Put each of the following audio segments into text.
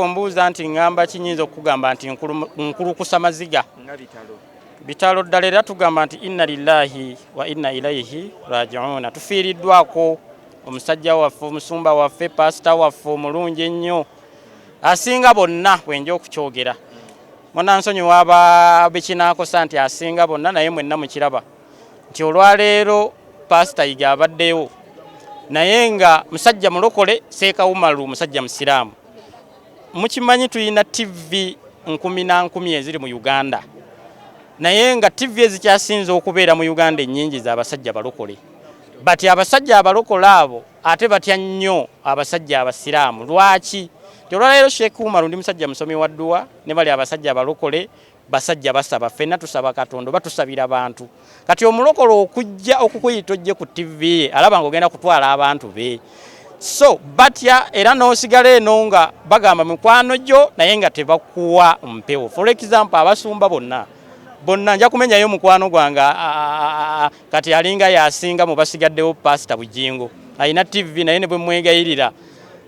Ombuuza nti ngamba ki nyinza okugamba nti nkulukusa maziga bitalo ddala era tugamba nti inna lillahi wa inna ilaihi rajiuna tufiiriddwako omusajja waffe omusumba waffe pasita waffe omulungi ennyo asinga bonna bwenja okukyogera munansonyi waba bekinakosa nti asinga bonna naye mwenna mukiraba nti olwaleero pasita yiga abaddewo naye nga musajja mulokole seekawumalu musajja musiraamu mukimanyi tulina ttivi nkumi na nkumi eziri mu uganda naye nga ttivi ezikyasinze okubeera mu uganda ennyingi za basajja balokole bati abasajja abalokole abo ate batya nnyo abasajja abasiraamu lwaki nti olwaleero sheekh umaru ndi musajja musomi wa dduwa ne bali abasajja abalokole Basajja basaba fenna tusaba katonda oba tusabira bantu kati omulokole okujja okukuyita ojje ku TV ye alaba nga ogenda kutwala abantu be so batya era n'osigala eno nga bagamba mikwano gyo naye nga tebakuwa mpewo for example abasumba bonna bonna nja kumenyayo mukwano gwange kati alinga yasinga mu basigaddewo pasita bujingo alina tv naye ne bwe mwegayirira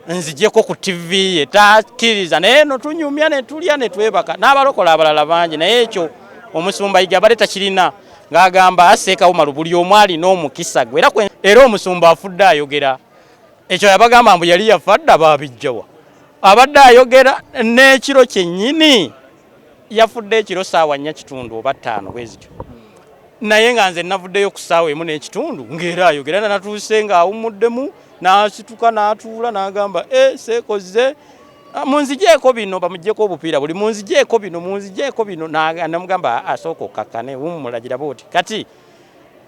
nzijeko ku TV ye takiriza naye no tunyumya ne tulya ne twebaka n'abalokola abalala bangi naye ekyo omusumba yiga bale takirina ng'agamba aseekawo malu buli omwali n'omukisa gwe era era omusumba afudde ayogera ekyo yabagamba mbu yali yafadda babijjawa abadde ayogera n'ekiro kyennyini yafudde ekiro saawa nnya kitundu oba ttaano bwe zityo naye nga nze navuddeyo ku saawa emu n'ekitundu ng'era ayogera na natuuse ng'awummuddemu n'asituka n'atuula n'agamba e eh, seekoze ah, munzijeeko bino bamugyeko obupiira buli munzijeeko bino munzijeeko bino namugamba ah, asooka okkakkane wummulagira booti kati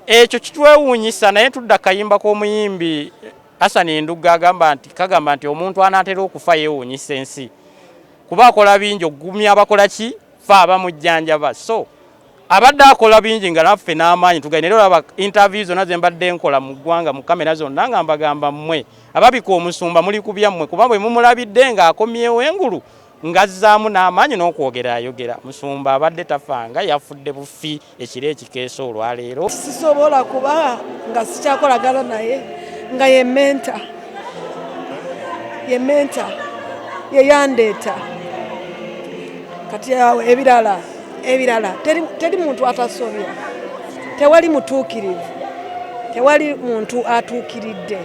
ekyo kitwewuunyisa naye tudda kayimba k'omuyimbi asani endugga agamba nti kagamba nti omuntu anaatera okufa yeewuunyisa ensi kuba akola bingi okugumya abakola ki fe abamujjanjaba so abadde akola bingi nga naffe n'amaanyi tugaine era olaba interview zonna ze mbadde nkola mu ggwanga mu kamera zonna nga mbagamba mmwe ababika omusumba muli ku byammwe kuba bwe mumulabidde ng'akomyewo engulu ng'azzaamu n'amaanyi n'okwogera ayogera musumba abadde tafanga yafudde bufi ekiro ekikeesa olwaleero. Sisobola kuba nga sikyakolagana naye nga ye menta ye menta yeyandeeta kati awo ebirala ebirala teri muntu atasobya tewali mutuukirivu tewali muntu atuukiridde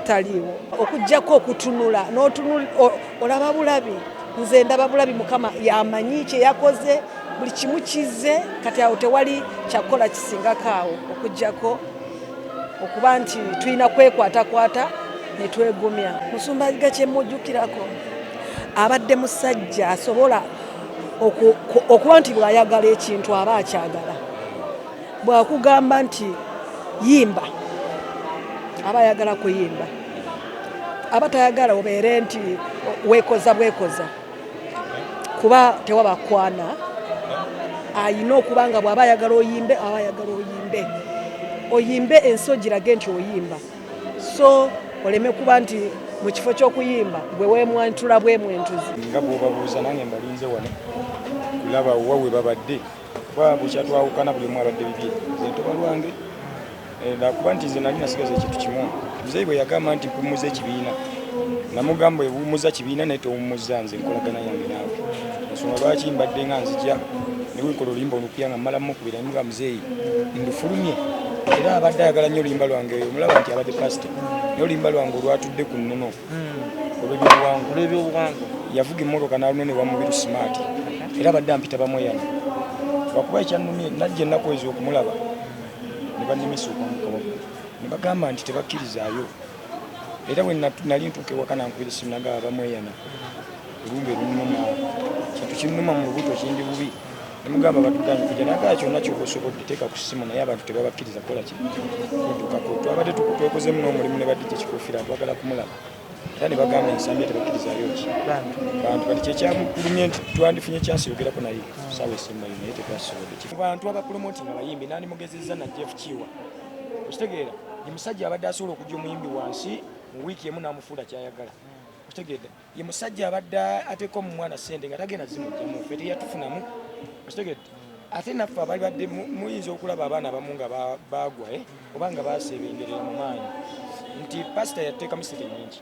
taliiwo okujjako okutunula olaba bulabi nze ndaba bulabi mukama yamanyi kyeyakoze buli kimu kize kati awo tewali kyakukola kisingako awo okujjako okuba nti tulina kwekwatakwata netwegumya musumba ga kyemujukirako abadde musajja asobola okuba nti bwayagala ekintu aba akyagala bwakugamba nti yimba aba ayagala kuyimba aba tayagala obeere nti wekoza bwekoza kuba tewaba kwana ayina okuba nga bwaba ayagala oyimbe aba ayagala oyimbe oyimbe ensi ogirage nti oyimba so oleme kuba nti mu kifo ky'okuyimba gwe wemwantula bwemwentuzi nga bwobabuuza nange mbalinze wano kulaba wa we babadde kuba bukya twawukana buli omu abadde bibye zentoba lwange eh, nakuba nti nze nali nasigaza ekintu kimu muzeeyi bwe yagamba nti kuwummuza ekibiina namugamba ewummuza kibiina naye towummuza nze nkolagana yange naawe ensonga lwaki mbadde nga nzija newekola oluyimba olupya nga mmala mukubira nemuga muzeeyi ndufulumye era abadde ayagala nnyo oluyimba lwange omulaba nti abadde pasita naye oluyimba lwange olwatudde ku nnono olw'ebyobuwangwa yavuga emmotoka n'aluna ne wamubiru smart era abadde ampita bamweyana lwakuba ekyannumye najja ennaku ezo okumulaba ne bannemesa okwamukaba ne bagamba nti tebakkirizaayo era bwe nali ntuuka ewaka nankubira essimu nagaba bamweyana olumbe lunuma kintu kinnuma mu lubuto kindi bubi Emugamba batugaanye kujja nagala kyonna kyoba osobodde teeka ku ssimu naye abantu tebabakkiriza kukola ki kuddukako twabadde twekozeemu n'omulimu ne badde kyekikuufira twagala kumulaba era ne bagamba ensambi tebakkirizayo ki bantu kati kyekyamugulumye nti twandifunye kyansi yogerako naye saawa esembayo naye tetwasobodde ki bantu abapulomoti nga bayimbi nandi mugezezza na jeff kiwa okitegeera ye musajja abadde asobola okujja omuyimbi wansi mu wiiki emu n'amufuula kyayagala okitegeedde ye musajja abadde ateeka omu mwana sente nga tagenda zimugyamu fe teyatufunamu okitegedde ate naffe abali badde muyinza okulaba abaana abamu nga baagwa eh, oba nga baseebengerera mu maanyi nti pasita yateekamu sente nyingi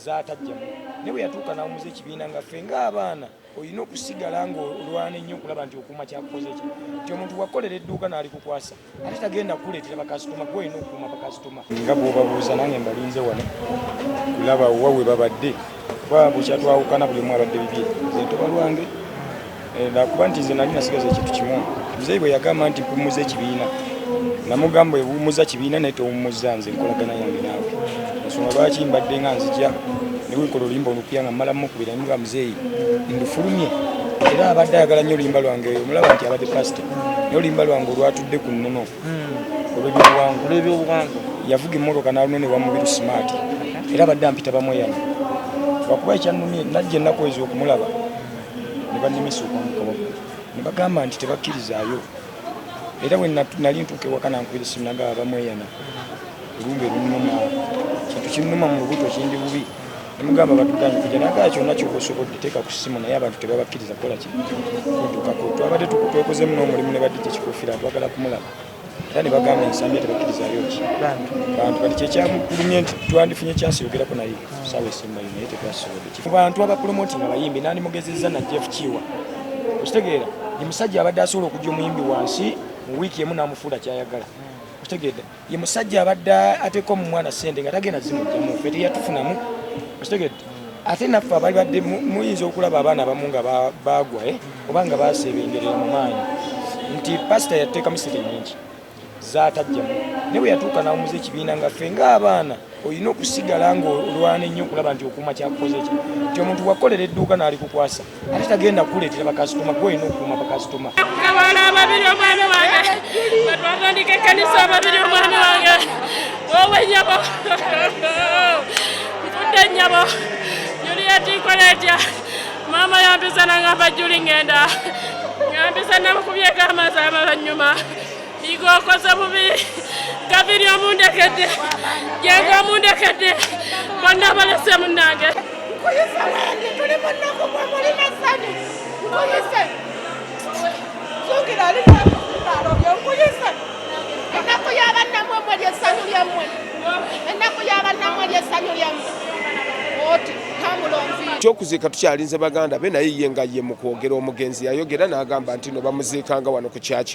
zatajjamu naye bwe yatuuka n'awumuza ekibiina nga fe ng'abaana olina okusigala ng'olwana ennyo okulaba nti okuuma kyakukoze ki nti omuntu wakukolera edduuka n'alikukwasa ate tagenda kukuleetera bakasitoma gwe olina okukuuma bakasitoma nga bwobabuuza nange mbalinze wano kulaba wa we babadde kuba bukyatwawukana buli omu abadde bibye zentoba lwange eh, nakuba nti nze nali nasigaza ekintu kimu muzeeyi bwe yagamba nti kuwummuza ekibiina namugamba ewummuza kibiina naye tewummuza nze nkolagana yange naawe ensonga lwaki mbadde nga nzija newekola oluyimba olupya nga mmala mukubira nga muzeeyi ndufulumye era abadde ayagala nnyo oluyimba lwange omulaba nti abadde pasita naye oluyimba lwange olwatudde ku nnono hmm. olw'ebyobuwangwa yavuga emmotoka n'aluno ne wamubiru simaati era abadde ampita bamweyana lwakuba ekyannumye najja ennaku ezo okumulaba ne bannimisa okwamukabako ne bagamba nti tebakkirizaayo era bwe nali ntuuka ewaka nankubira essimu nagaba bamweyana olumba erunuma kintu kinnuma mu lubuto kindi bubi Mugamba batugaanye kujja nagala kyonna kyoba osobodde teeka ku ssimu naye abantu tebabakkiriza kukola ki kuddukako twabadde twekozeemu n'omulimu ne badde kyekikufiira twagala kumulaba era ne bagamba ensambi tebakkirizayo ki bantu kati kyekyamugulumye nti twandifunye kyansi yogerako naye saawa esembayo naye tetwasobodde mu bantu abapulomoti nga bayimbi nandi mugezezza na jeff kiwa okitegeera ye musajja abadde asobola okujja omuyimbi wansi mu wiiki emu n'amufuula kyayagala okitegeedde ye musajja abadde ateeka omu mwana sente nga tagenda zimugyamu fe teyatufunamu okitegedde ate naffe abali badde muyinza okulaba abaana abamu nga baagwa eh, oba nga baseebengerera mu maanyi nti pasita yateekamu sente nyingi zatajjamu naye bwe yatuuka n'awumuza ekibiina nga fe ng'abaana olina okusigala ng'olwana ennyo okulaba nti okuuma kyakukoze ki nti omuntu wakukolera edduuka n'alikukwasa ate tagenda kukuleetera bakasitoma gwe olina okukuuma bakasitoma abaana ababiri omwana wange batwatandika ekkanisa ababiri omwana wange wowe nyabo nfudde nyabo juliya tikola etya maama yampiza nangamba juli ngenda yampiza namukubyeko amazaamalanyuma Yiga okoze bubi gaviri omundekedde yega omundekedde bonna balese munange nkuyise wendi tuli munaku gwe muli masanyu nkuyise zuukira ali nalobye nkuyise ennaku yabannamwe mwe lyesanyu lyammwe ennaku yabannamwe lyesanyu lyammwe oti ekyokuziika tukyalinze baganda be naye ye nga ye mu kwogera omugenzi yayogera n'agamba nti no bamuziikanga wano ku kyaki